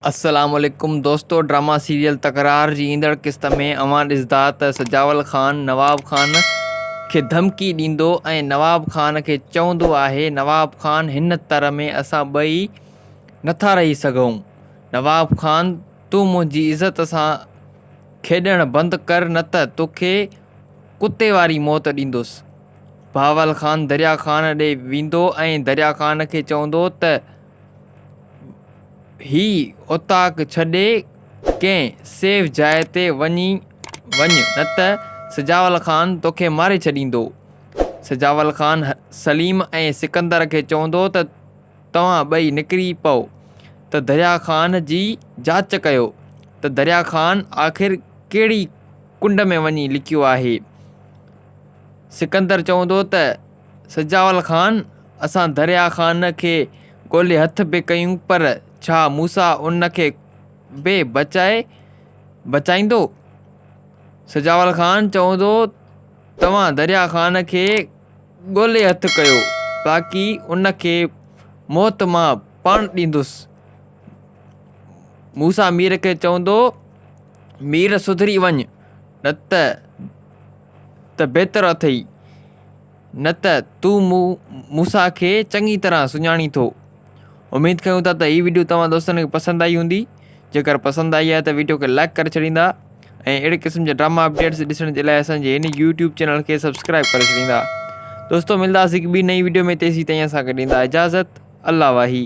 السلام عليڪم دوستو ڊراما سيريل تڪرار جي ايندڙ قسط ۾ اوهان ڏسدا ته سجاول خان نواب خان کي ڌمڪي ڏيندو ۽ نواب خان کي چوندو آهي نواب خان هن تر ۾ اسان ٻئي نٿا رهي سگهون نواب خان تون منهنجي عزت سان کيڏڻ بند ڪر نه ته توکي ڪتي واري موت ڏيندس بهاول خان دريا خان ڏي ويندو ۽ دريا خان کي چوندو ته هي اوطاق ڇڏي ڪنهن سيف جاء تي وڃي وڃ نه ته سجاول خان توکي ماري ڇڏيندو. سجاول خان سليم ۽ سڪندر کي چوندو ته توهان ٻئي نڪري پئو ته دريا خان جي جاچ ڪيو ته دريا خان آخر ڪهڙي ڪنڊ ۾ وڃي لڪيو آهي. سڪندر چوندو ته سجاول خان، اسان دريا خان کي ڳولي هٿ به ڪيون پر ڇا موسيٰ ان کي به بچائي بچائيندو؟ سجاول خان، چوندو توهان دريا خان کي ڳولي هٿ ڪيو باقي ان کي موت مان پاڻ ڏيندس. موسيٰ مير کي چوندو مير سڌري وڃ نه ته ته بهتر اٿئي، نه ته تون مون موسيٰ کي چڱي طرح سڃاڻين ٿو. اميد ڪيون ٿا ته هي وڊيو توهان دوستن کي پسند آئي هوندي، جيڪر پسند آئي آهي ته وڊيو کي لائيڪ ڪري ڇڏيندا ۽ اهڙي قسم جا ڊراما اپڊيٽس ڏسڻ جي لاء اسان جي هن يوٽيوب چينل کي سبسڪرائيب ڪري ڇڏيندا. دوستو ملنداسين هڪ ٻي نئين وڊيو ۾ تيسين تائين اسان کي ڏيندا اجازت الله واهي.